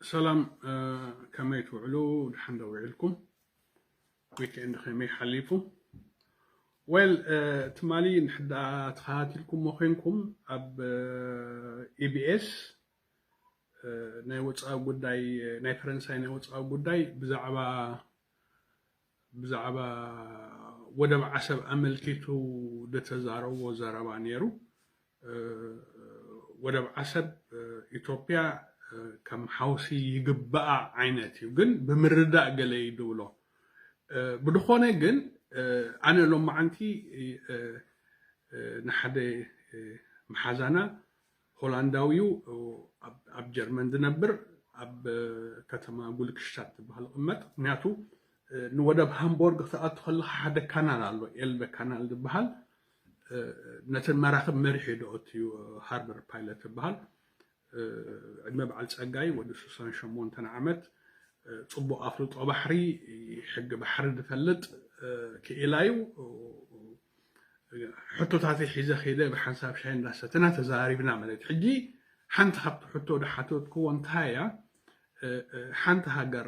ሰላም ከመይ ትውዕሉ ድሓን ዶ ዊዕልኩም ዊክኤንድ ከመይ ሓሊፉ ዌል ትማሊ ንሕዳ ተኸታቲልኩሞ ኮንኩም ኣብ ኢቢኤስ ናይ ወፃኢ ጉዳይ ናይ ፈረንሳይ ናይ ወፃኢ ጉዳይ ብዛዕባ ብዛዕባ ወደብ ዓሰብ ኣመልኪቱ ዝተዛረቦ ዘረባ ነይሩ። ወደብ ዓሰብ ኢትዮጵያ ከም ሓውሲ ይግበኣ ዓይነት እዩ ግን ብምርዳእ ገለ እዩ ዝብሎ ብድኾነ ግን ኣነ ሎማዓንቲ ንሓደ መሓዛና ሆላንዳዊ'ዩ ኣብ ጀርመን ዝነብር ኣብ ከተማ ጉልክሽታት ትብሃል ዝቕመጥ ምክንያቱ ንወደብ ሃምቦርግ ክትኣቱ ከለካ ሓደ ካናል ኣሎ ኤልበ ካናል ዝበሃል ነተን መራክብ መሪሑ ደኦትዩ ሃርበር ፓይለት ዝበሃል ዕድመ በዓል ጸጋይ ወዲ ሱሳን ሸሞንተን ዓመት ጽቡቕ ኣፍልጦ ባሕሪ ሕጊ ባሕሪ ዝፈልጥ ክኢላዩ ሕቶታተይ ሒዘ ከይደ ብሓንሳብ ሻሂ እንዳሰተና ተዘራሪብና ማለት እዩ። ሕጂ ሓንቲ ካብቲ ሕቶ ዝሓተትክዎ እንታይ እያ ሓንቲ ሃገር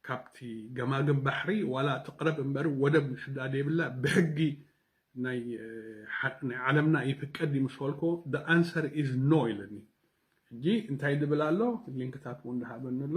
ካብቲ ገማግም ባሕሪ ዋላ ትቕረብ እምበር ወደብ ንሕዳ ደይብላ ብሕጊ ናይ ዓለምና ይፍቀድ እዩ ምስ በልኮ the answer is no ኢለኒ ሕጂ እንታይ ዝብል ኣሎ ሊንክታት እውን ዝሃበኒ ኣሎ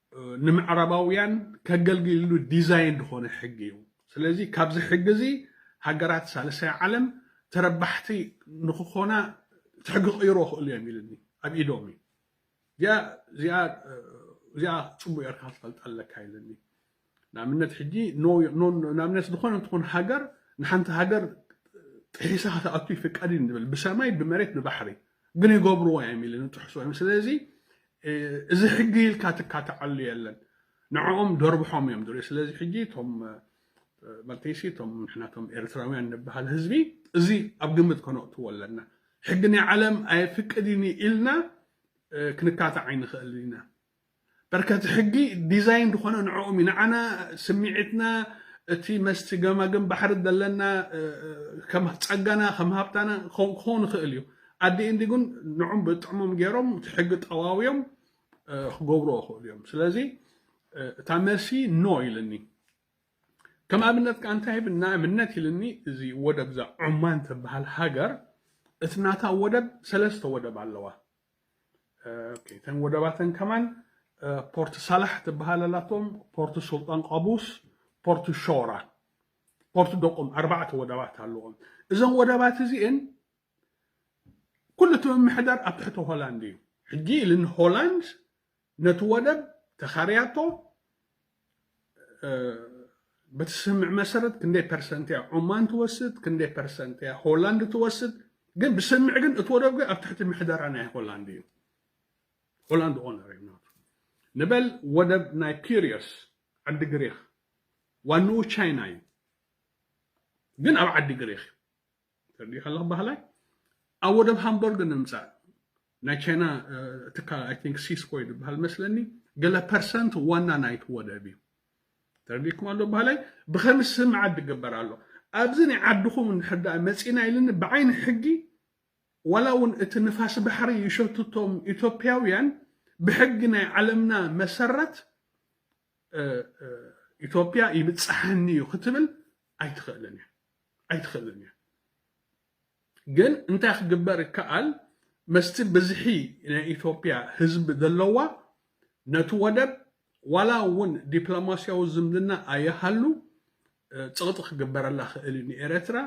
ንምዕራባውያን ከገልግልሉ ዲዛይን ዝኾነ ሕጊ እዩ። ስለዚ ካብዚ ሕጊ እዚ ሃገራት ሳልሳይ ዓለም ተረባሕቲ ንክኾና እቲ ሕጊ ክቕይሮ ይኽእሉ እዮም ኢልኒ ኣብ ኢዶም እዩ እዚኣ ፅቡቅ ጌርካ ክትፈልጣ ኣለካ ኢልኒ ንኣብነት ሕጂ ንኣብነት ዝኾነ እንትኾን ሃገር ንሓንቲ ሃገር ጥሒሳ ክትኣቱ ይፍቀድ እዩ ንብል ብሰማይ ብመሬት ብባሕሪ ግን ይገብርዎ እዮም ኢልኒ ጥሕሶ እዮም ስለዚ እዚ ሕጊ ኢልካ ትካትዓሉ የለን ንዕኦም ደርብሖም እዮም ድርዮ ስለዚ ሕጂ እቶም መርተይሲ እቶም ንሕና እቶም ኤርትራውያን ንበሃል ህዝቢ እዚ ኣብ ግምት ከነእትዎ ኣለና ሕጊ ናይ ዓለም ኣየፍቅድኒ ኢልና ክንካታዕ ኣይንኽእል ኢና በርከቲ ሕጊ ዲዛይን ዝኾነ ንዕኦም እዩ ንዓና ስምዒትና እቲ መስቲ ገማግም ባሕሪ ዘለና ከም ጸጋና ከም ሃብታና ክኸውን ይኽእል እዩ ኣዲ ኢንዲ ግን ንዑም ብጥዕሞም ጌሮም እቲ ሕጊ ጠዋውዮም ክገብሮ ይኽእሉ እዮም ስለዚ እታ መልሲ ኖ ኢልኒ ከም ኣብነት ከ እንታይ ብ ንኣብነት ኢልኒ እዚ ወደብ እዛ ዑማን ትበሃል ሃገር እቲ ናታ ወደብ ሰለስተ ወደብ ኣለዋ እተን ወደባተን ከማን ፖርት ሳላሕ ትበሃል ኣላቶም ፖርት ሱልጣን ቃቡስ ፖርት ሾራ ፖርት ደቁም ኣርባዕተ ወደባት ኣለዎም እዘን ወደባት እዚኤን ኩሉ እቲ ምምሕዳር ኣብ ትሕቲ ሆላንድ እዩ። ሕጂ ኢልን ሆላንድ ነቲ ወደብ ተኻርያቶ በቲ ስምምዕ መሰረት ክንደይ ፐርሰንት እያ ዑማን ትወስድ፣ ክንደይ ፐርሰንት እያ ሆላንድ ትወስድ። ግን ብስምምዕ ግን እቲ ወደብ ግን ኣብ ትሕቲ ምሕደራ ናይ ሆላንድ እዩ። ሆላንድ ኦነር እዩ ናቱ። ንበል ወደብ ናይ ፒሪዮስ ዓዲ ግሪኽ ዋንኡ ቻይና እዩ፣ ግን ኣብ ዓዲ ግሪኽ እዩ። ተርዲኡ ሓለኽ ባሃላይ ኣብ ወደብ ሃምቦርግ ንምጻእ ናይ ቻይና ትካል ኣይ ቲንክ ሲስኮ ዝበሃል መስለኒ ገለ ፐርሰንት ዋና ናይቲ ወደብ እዩ ተረዲእኩም ኣሎ ባህላይ ብኸምስ ስም ዓዲ ግበር ኣሎ ኣብዚ ናይ ዓድኹም እንድሕር ደኣ መፂና ኢልኒ ብዓይኒ ሕጊ ዋላ እውን እቲ ንፋስ ባሕሪ ይሸትቶም ኢትዮጵያውያን ብሕጊ ናይ ዓለምና መሰረት ኢትዮጵያ ይብፅሓኒ እዩ ክትብል ኣይትኽእልን እያ ኣይትኽእልን እያ ግን እንታይ ክግበር ይከኣል መስቲ ብዝሒ ናይ ኢትዮጵያ ህዝቢ ዘለዋ ነቲ ወደብ ዋላ እውን ዲፕሎማስያዊ ዝምድና ኣይሃሉ ፅቕጢ ክግበረላ ክእል እዩ ንኤርትራ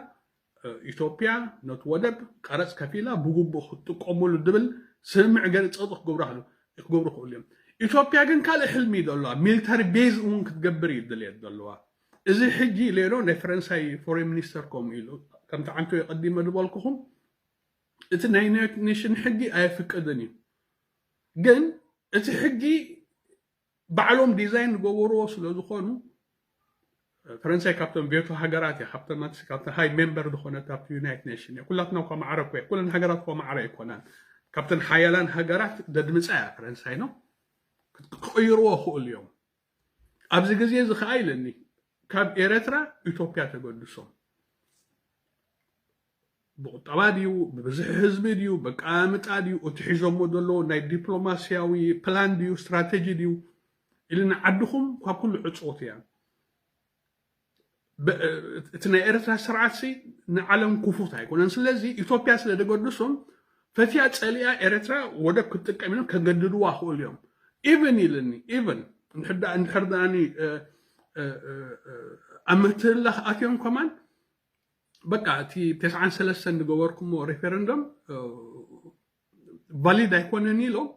ኢትዮጵያ ነቲ ወደብ ቀረፅ ከፊላ ብግቡእ ክትጥቀሙሉ ዝብል ስምምዕ ገለ ፅቕጢ ክገብሩ ክሉ ክገብሩ ክእሉ እዮም ኢትዮጵያ ግን ካልእ ሕልሚ እዩ ዘለዋ ሚሊታሪ ቤዝ እውን ክትገብር እዩ ድልየት ዘለዋ እዚ ሕጂ ሌሎ ናይ ፈረንሳይ ፎሬን ሚኒስተር ከምኡ ኢሉ። ከምቲ ዓንተወይ ቀዲመ ዝበልኩኹም እቲ ናይ ዩናይትድ ኔሽን ሕጊ ኣየፍቅድን እዩ። ግን እቲ ሕጊ ባዕሎም ዲዛይን ዝገበርዎ ስለ ዝኾኑ ፈረንሳይ ካብተን ቬቶ ሃገራት እያ ካብተን ካብተን ሃይ ሜምበር ዝኾነት ኣብቲ ዩናይት ኔሽን እያ ኩላትና እኳ ማዕረ እኮ ኩለን ሃገራት እኳ ማዕረ ኣይኮናን ካብተን ሓያላን ሃገራት ደድምፃ እያ ፈረንሳይ ነው ክቕይርዎ ይኽእሉ እዮም ኣብዚ ግዜ እዚ ከኣ ኢለኒ ካብ ኤረትራ ኢቶፕያ ተገዱሶም ብቁጠባ ድዩ ብብዝሒ ህዝቢ ድዩ በቃምጣ ድዩ እቲ ሒዞሞ ዘለዎ ናይ ዲፕሎማሲያዊ ፕላን ድዩ ስትራተጂ ድዩ ኢልና ዓድኹም ካብ ኩሉ ዕጽዎት እያ እቲ ናይ ኤርትራ ስርዓት ሲ ንዓለም ክፉት ኣይኮነን ስለዚ ኢትዮጵያ ስለ ደገድሶም ፈትያ ጸሊኣ ኤርትራ ወደብ ክትጥቀም ኢሎም ከገድድዋ ክእሉ እዮም ኢቨን ኢልኒ ኢቨን እንድሕር ድኣኒ ኣብ ምትህላኽ ኣትዮም ከማን በቃ እቲ ተስዓን ሰለስተን ዝገበርኩሞ ሪፈረንደም ቫሊድ ኣይኮነን ኢሎም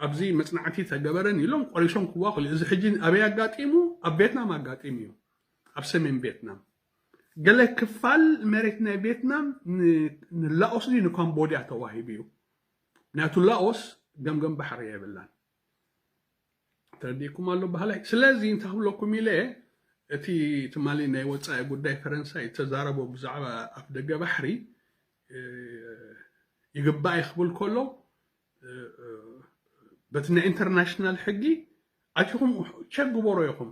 ኣብዚ መፅናዕቲ ተገበረን ኢሎም ቆሪሶም ክዋ ክል እዚ ሕጂ ኣበይ ኣጋጢሙ ኣብ ቬትናም ኣጋጢሙ እዩ ኣብ ሰሜን ቬትናም ገለ ክፋል መሬት ናይ ቬትናም ንላኦስ ድዩ ንካምቦድያ ተዋሂቡ እዩ ምክንያቱ ላኦስ ገምገም ባሕሪ የብላን ተረዲእኩም ኣሎ በሃላይ ስለዚ እንታይ ክብለኩም ኢለ እቲ ትማሊ ናይ ወፃኢ ጉዳይ ፈረንሳይ እተዛረቦ ብዛዕባ ኣፍ ደገ ባሕሪ ይግባእ እዩ ክብል ከሎ በቲ ናይ ኢንተርናሽናል ሕጊ ኣቲኹም ቸክ ግበሮ ኢኹም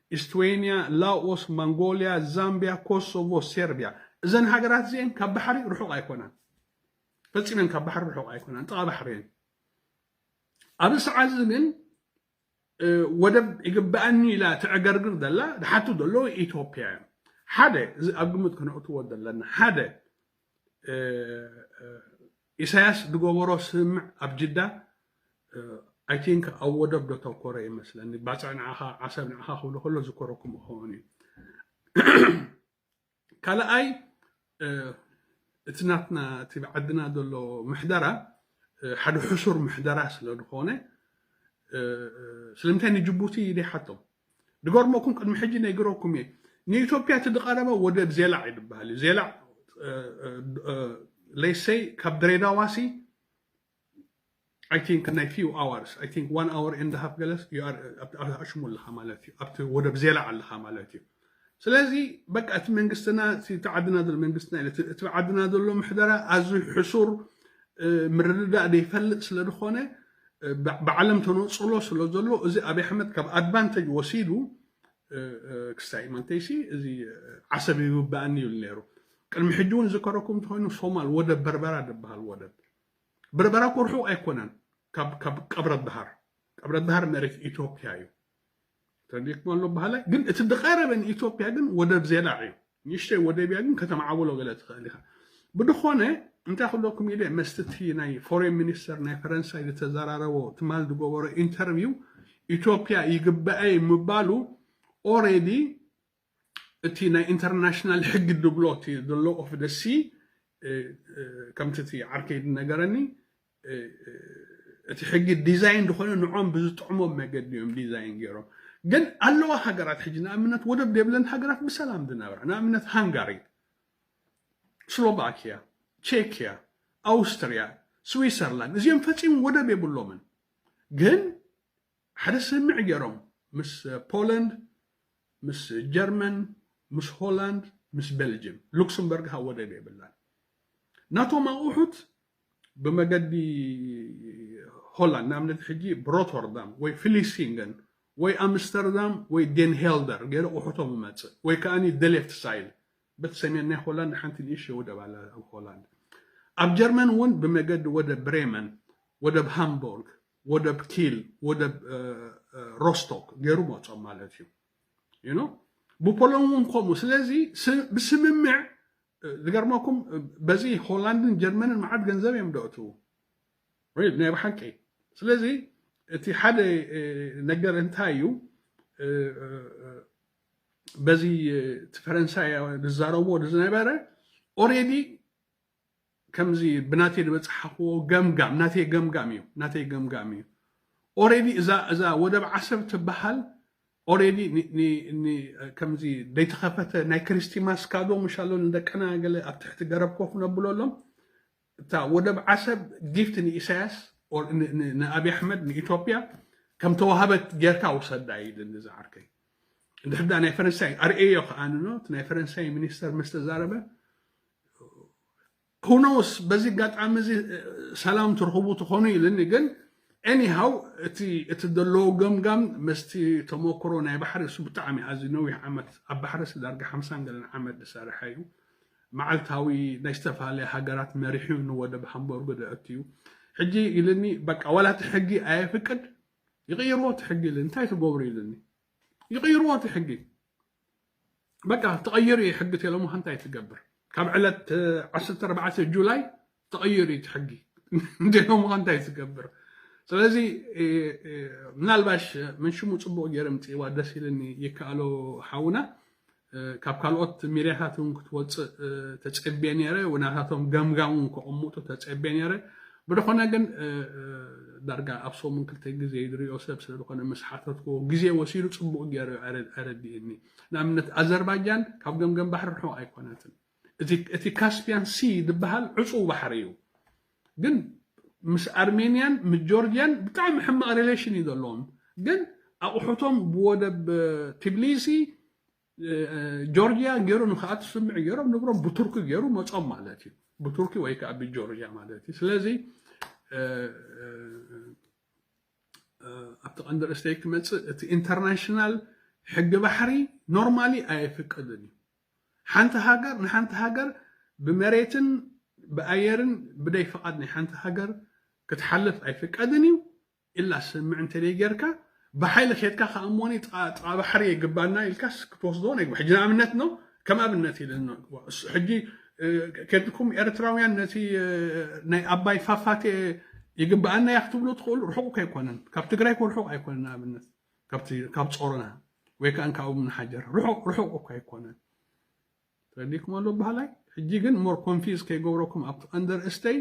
ኢስትዌንያ፣ ላኦስ፣ መንጎልያ፣ ዛምብያ፣ ኮሶቮ፣ ሴርብያ፣ እዘን ሃገራት እዚኤን ካብ ባሕሪ ርሑቕ ኣይኮናን። ፈጺመን ካብ ባሕሪ ርሑቕ ኣይኮናን፣ ጥቓ ባሕሪ እየን። ኣብዚ ሰዓት እዚ ግን ወደብ ይግበኣኒ ኢላ ተዕገርግር ዘላ ዝሓቱ ዘለዉ ኢትዮጵያ እዮም። ሓደ እዚ ኣብ ግምት ክነእትዎ ዘለና ሓደ ኢሳያስ ዝገበሮ ስምምዕ ኣብ ጅዳ ኣይ ቲንክ ኣብ ወደብ ዶ ተኮረ እዩ መስለኒ ባፅዕ ንዓኻ ዓሰብ ንዓኻ ክብሎ ከሎ ዝኮረኩም ክኸውን እዩ ካልኣይ እቲ ናትና እቲ ብዓድና ዘሎ ምሕደራ ሓደ ሕሱር ምሕደራ ስለ ዝኾነ ስለምንታይ ንጅቡቲ ይደይሓቶም ድገርመኩም ቅድሚ ሕጂ ነጊረኩም እየ ንኢትዮጵያ እቲ ድቀረበ ወደብ ዜላዕ እዩ ድበሃል እዩ ዜላዕ ሌሰይ ካብ ድሬዳዋ ሲ ኣይ ቲንክ ናይ ፊው ኣዋርስ ኣይ ቲንክ ዋን ኣወር ኤንድ ሃፍ ገለስ ኣሽሙ ኣለካ ማለት እዩ ኣብቲ ወደብ ዜላዕ ኣለካ ማለት እዩ ስለዚ በቃ እቲ መንግስትና እቲ እቲ ዓድና ዘሎ መንግስትና ኢለ እቲ እቲ ዓድና ዘሎ ምሕደራ ኣዝዩ ሕሱር እ፣ ምርድዳእ ዘይፈልጥ ስለ ዝኾነ እ፣ ብ- ብዓለም ተነጽሎ ስለ ዘሎ እዚ ኣብይ ኣሕመድ ካብ ኣድቫንተጅ ወሲዱ እ፣ እ፣ ክስታይ ማንተይሲ እዚ እ፣ ዓሰብ ይግባእኒ ይብል ነይሩ ቅድሚ ሕጂ እውን ዝከረኩም እንተኮይኑ ሶማል ወደብ በርበራ ዝበሃል ወደብ በርበራ እኮ ርሑቕ ኣይኮነን ካብ ካብ ቀብረት ደሃር ቀብረት ደሃር መሬት ኢትዮጵያ እዩ ተደክሞ ኣሎ በሃላይ ግን እቲ ዝቐረበ ንኢትዮጵያ ግን ወደብ ዜላዕ እዩ ንእሽተይ ወደብ እያ ግን ከተማዕብሎ ገለ ትኽእል ኢኻ ብድኾነ እንታይ ክብለኩም ኢለ መስቲ እቲ ናይ ፎሬን ሚኒስተር ናይ ፈረንሳይ ዝተዘራረቦ ትማል ዝገበሮ ኢንተርቪው ኢትዮጵያ ይግበኣይ ምባሉ ኦሬዲ እቲ ናይ ኢንተርናሽናል ሕጊ ድብሎ እቲ the law of the sea ከምቲ እቲ ዓርከይ ዝነገረኒ እቲ ሕጊ ዲዛይን ዝኾነ ንዖም ብዝጥዕሞም መገዲ እዮም ዲዛይን ገይሮም ግን ኣለዋ ሃገራት ሕጂ ንኣብነት ወደብ ዘይብለን ሃገራት ብሰላም ዝነብራ ንኣብነት ሃንጋሪ ስሎቫኪያ ቼክያ ኣውስትርያ ስዊሰርላንድ እዚኦም ፈፂሙ ወደብ የብሎምን ግን ሓደ ስምምዕ ገይሮም ምስ ፖላንድ ምስ ጀርመን ምስ ሆላንድ ምስ ቤልጅም ሉክስምበርግ ሃ ወደብ የብላን ናቶም ኣቑሑት ብመገዲ ሆላንድ ንኣብነት ሕጂ ብሮቶርዳም ወይ ፍሊሲንገን ወይ ኣምስተርዳም ወይ ዴንሄልደር ገይረ ቁሑቶም ይመፅእ ወይ ከዓ ደሌፍት ሳይል በት ሰሜን ናይ ሆላንድ ሓንቲ ንእሽተ ወደብ ኣላ ኣብ ሆላንድ ኣብ ጀርመን እውን ብመገዲ ወደብ ብሬመን ወደብ ሃምቡርግ ወደብ ኪል ወደብ ሮስቶክ ገይሩ መፆም ማለት እዩ ይኖ ብፖሎን እውን ከምኡ ስለዚ ብስምምዕ ዝገርመኩም በዚ ሆላንድን ጀርመንን መዓት ገንዘብ እዮም ደእትዉ ናይ ብሓቂ ስለዚ እቲ ሓደ ነገር እንታይ እዩ በዚ እቲ ፈረንሳይ ዝዛረብዎ ዝነበረ ኦሬዲ ከምዚ ብናተይ ዝበጽሓኽዎ ገምጋም ናተይ ገምጋም እዩ ናተይ ገምጋም እዩ ኦሬዲ እዛ እዛ ወደብ ዓሰብ ትበሃል ኦሬዲ ከምዚ ደይተኸፈተ ናይ ክሪስቲማስ ካዶ ምሻሎ ንደቅና ገለ ኣብ ትሕቲ ገረብ ኮፍ ነብለሎም እታ ወደብ ዓሰብ ጊፍት ንኢሳያስ ንኣብይ ኣሕመድ ንኢትዮጵያ ከም ተዋህበት ጌርካ ውሰዳ ይድሊ ዝዓርከይ እንድሕዳ ናይ ፈረንሳይ ኣርእዮ ከኣንኖ እቲ ናይ ፈረንሳይ ሚኒስተር ምስ ተዛረበ ሁኖውስ በዚ ኣጋጣሚ እዚ ሰላም ትርኽቡ ትኾኑ ኢልኒ ግን ኤኒሃው እቲ እቲ ዘለዎ ገምጋም ምስቲ ተመክሮ ናይ ባሕሪ እሱ ብጣዕሚ ኣዝዩ ነዊሕ ዓመት ኣብ ባሕሪ ሲ ዳርጋ ሓምሳን ገለን ዓመት ዝሰርሐ እዩ መዓልታዊ ናይ ዝተፈላለያ ሃገራት መሪሑ ንወደብ ሃምበርጎ ዘእቱ እዩ ሕጂ ኢልኒ በቃ ዋላ እቲ ሕጊ ኣየፍቅድ ይቕይርዎ እቲ ሕጊ ኢልኒ እንታይ ትገብሩ ኢልኒ ይቕይርዎ እቲ ሕጊ በቃ ተቐይሩ እዩ ሕጊ ቴለሙሃ እንታይ ትገብር ካብ ዕለት ዓሰርተ ኣርባዕተ ጁላይ ተቐይሩ እዩ ሕጊ ቴለሙሃ እንታይ ትገብር ስለዚ ምናልባሽ መንሽሙ ፅቡቕ ገይረ ምፅእዋ ደስ ኢልኒ ይከኣሎ ሓውና ካብ ካልኦት ሚድያታት እውን ክትወፅእ ተፀቤ ነይረ ናታቶም ገምጋም እውን ከቕምጡ ተፀቤ ነይረ ብልኾነ ግን ዳርጋ ኣብ ሰሙን ክልተ ግዜ ዝሪኦ ሰብ ስለ ዝኾነ ምስ ሓተትክዎ ግዜ ወሲዱ ጽቡቕ ጌሩ ኣረዲእኒ። ንኣብነት ኣዘርባጃን ካብ ገምገም ባሕሪ ርሑቕ ኣይኮነትን። እቲ እቲ ካስፒያን ሲ ዝበሃል ዕጹው ባሕሪ እዩ። ግን ምስ ኣርሜንያን ምስ ጆርጅያን ብጣዕሚ ሕማቕ ሪሌሽን እዩ ዘለዎም። ግን ኣቑሑቶም ብወደብ ቲብሊሲ ጆርጂያ ጌሩ ንክኣቱ ስምዒ ጌሮም ንብሮም ብቱርኪ ጌሩ መጾም ማለት እዩ ብቱርኪ ወይ ከዓ ብጆርጂያ ማለት እዩ ስለዚ ኣብቲ ቀንዲ ርእስተይ ክመፅእ እቲ ኢንተርናሽናል ሕጊ ባሕሪ ኖርማሊ ኣየፍቅድን እዩ ሓንቲ ሃገር ንሓንቲ ሃገር ብመሬትን ብኣየርን ብደይ ፍቓድ ናይ ሓንቲ ሃገር ክትሓልፍ ኣይፍቀድን እዩ ኢላ ሰምዕ እንተደይ ገርካ ብሓይሊ ከድካ ከኣ እሞኒ ጥቃ ጥቃ ባሕሪ የግባና ኢልካስ ክትወስዶ ናይ ሕጂ ንኣብነት ነው ከም ኣብነት ኢለ ነው እሱ ሕጂ ከድኩም ኤርትራውያን ነቲ ናይ ኣባይ ፋፋቴ ይግባኣና እያ ክትብሉ ትኽእሉ ርሑቅ ከይኮነን ካብ ትግራይ ኮ ርሑቅ ኣይኮነን ንኣብነት ካብ ጾሮና ወይ ከዓ ካብኡ ምንሓጀር ርሑቅ ርሑቅ እኳ ኣይኮነን ተረዲእክሞ ኣሎ በሃላይ ሕጂ ግን ሞር ኮንፊዝ ከይገብረኩም ኣብቲ ቀንዲ ኣርእስተይ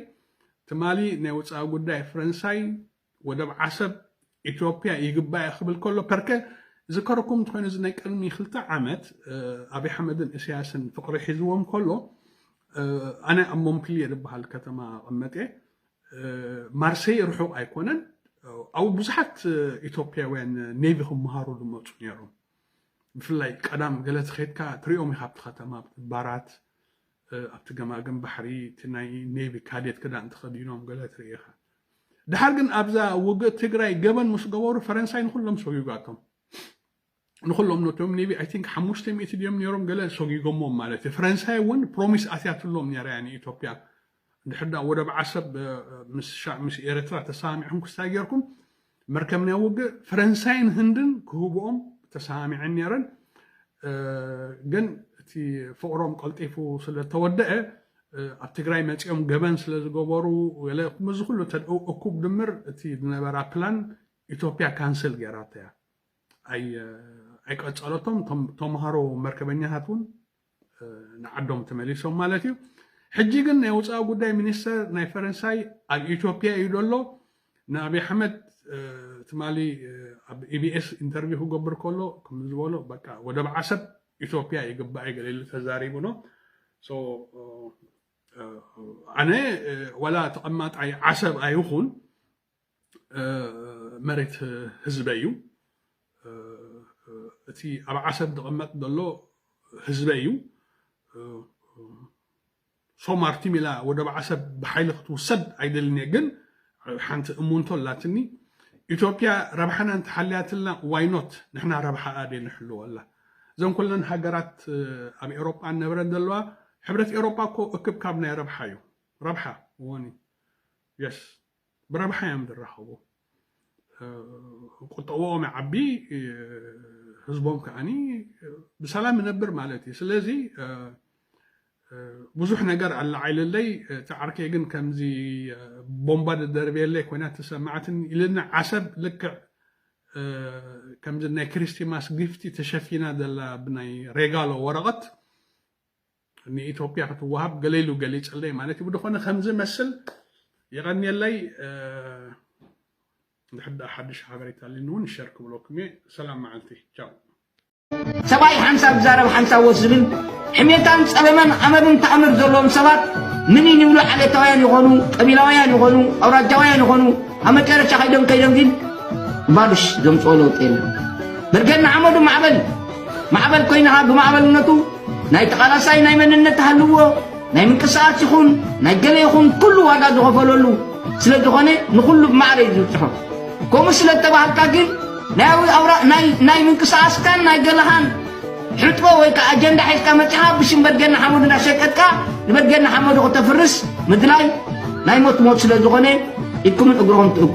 ትማሊ ናይ ወጻኢ ጉዳይ ፈረንሳይ ወደብ ዓሰብ ኢትዮፕያ ይግባኣ ክብል ከሎ ፐርከ ዝከረኩም እንተኾይኑ እዚ ናይ ቅድሚ ክልተ ዓመት ኣብይ ኣሕመድን እሰያስን ፍቅሪ ሒዝዎም ከሎ ኣነ ኣብ ሞምፕልየ ዝበሃል ከተማ ቐመጥ እየ ማርሰይ ርሑቕ ኣይኮነን ኣብኡ ብዙሓት ኢትዮጵያውያን ኔቪ ክመሃሩ ዝመፁ ነይሮም ብፍላይ ቀዳም ገለ ተኸድካ ትሪኦም ኢኻ ኣብቲ ከተማ ኣብቲ ባራት ኣብቲ ገማግም ባሕሪ እቲ ናይ ኔቪ ካዴት ክዳን ተኸዲኖም ገለ ትርኢ ኢኻ ድሓር ግን ኣብዛ ውግእ ትግራይ ገበን ምስ ገበሩ ፈረንሳይ ንኩሎም ሰጉጋቶም ንኩሎም ነቶም ኔቪ ኣይ ቲንክ ሓሙሽተ ሚእቲ ድዮም ነይሮም ገለ ሰጊጎሞም ማለት እዩ ፈረንሳይ እውን ፕሮሚስ ኣትያትሎም ነይራ እያ ንኢትዮጵያ እንድሕር ድኣ ወደብ ዓሰብ ምስ ሻዕ ምስ ኤረትራ ተሰማሚዕኩም ክስታይ ጌርኩም መርከብ ናይ ውግእ ፈረንሳይን ህንድን ክህብኦም ተሰማሚዐን ኔረን ግን እቲ ፍቕሮም ቀልጢፉ ስለ ተወደአ ኣብ ትግራይ መጺኦም ገበን ስለ ዝገበሩ ገለ እዚ ኩሉ እኩብ ድምር እቲ ዝነበራ ፕላን ኢትዮጵያ ካንስል ጌራታ እያ ኣይቀጸለቶም ተምሃሮ መርከበኛታት እውን ንዓዶም ተመሊሶም ማለት እዩ። ሕጂ ግን ናይ ወፃኢ ጉዳይ ሚኒስተር ናይ ፈረንሳይ ኣብ ኢትዮጵያ እዩ ዘሎ ንኣብይ ኣሕመድ ትማሊ ኣብ ኢቢኤስ ኢንተርቪው ክገብር ከሎ ከም ዝበሎ በቃ ወደብ ዓሰብ ኢትዮጵያ ይግባእ ገለ ኢሉ ተዛሪቡ ሎ ኣነ ዋላ ተቐማጣይ ዓሰብ ኣይኹን መሬት ህዝበይ እዩ እቲ ኣብ ዓሰብ ዝቕመጥ ዘሎ ህዝበይ እዩ ሶማርቲ ሚላ ወደብ ዓሰብ ብሓይሊ ክትውሰድ ኣይደልን እየ ግን ሓንቲ እሙንቶ ኣላትኒ ኢትዮጵያ ረብሓና እንተሓልያትልና ዋይኖት ንሕና ረብሓ ኣደ ንሕልወላ እዘን ኩለን ሃገራት ኣብ ኤሮጳ እነብረን ዘለዋ ሕብረት ኤሮጳ እኮ እክብካብ ናይ ረብሓ እዩ ረብሓ ወኒ የስ ብረብሓ እዮም ዝራኸቡ ቁጠብኦም ይዓቢ ህዝቦም ከዓኒ ብሰላም ይነብር ማለት እዩ ስለዚ ብዙሕ ነገር ኣላዓይልለይ እቲ ዓርከይ ግን ከምዚ ቦምባ ደደርብየለይ ኮይና ተሰማዕትኒ ኢልና ዓሰብ ልክዕ ከምዚ ናይ ክሪስቲማስ ጊፍቲ ተሸፊና ዘላ ብናይ ሬጋሎ ወረቐት ንኢትዮጵያ ክትዋሃብ ገለ ኢሉ ገሊጸለይ ማለት ብድኾነ ከምዚ መስል የቐንየለይ ድሕር ድኣ ሓድሽ ሓበሬታ ኣሊኒ እውን ሸር ክብለኩም እየ ሰላም መዓልቲ ቻው ሰብኣይ ሓንሳብ ዝዛረብ ሓንሳብ ወስ ዝብል ሕሜታን ጸለመን ኣመልን ተኣምር ዘለዎም ሰባት ምኒን ይብሉ ዓሌታውያን ይኾኑ ቀቢላውያን ይኾኑ ኣውራጃውያን ይኾኑ ኣብ መጨረሻ ከይዶም ከይዶም ግን ባልሽ ዘምጽኦ ለውጢ የለን በርገና ሓመዱ ማዕበል ማዕበል ኮይንኻ ብማዕበልነቱ ናይ ተቓላሳይ ናይ መንነት ተሃልዎ ናይ ምንቅስቓስ ይኹን ናይ ገለ ይኹን ኩሉ ዋጋ ዝኸፈለሉ ስለ ዝኾነ ንኹሉ ብማዕረ እዩ ዝብፅሖ ከምኡ ስለ እተባህልካ ግን ናይ ምንቅስቓስካን ናይ ገለኻን ሕጥቦ ወይ ከዓ ኣጀንዳ ሒዝካ መፂኻ ብሽም በድገና ሓመዱ እንዳሸቀጥካ ንበድገና ሓመዱ ክተፍርስ ምድላይ ናይ ሞት ሞት ስለ ዝኾነ ኢድኩምን እግርኹም ትእክቡ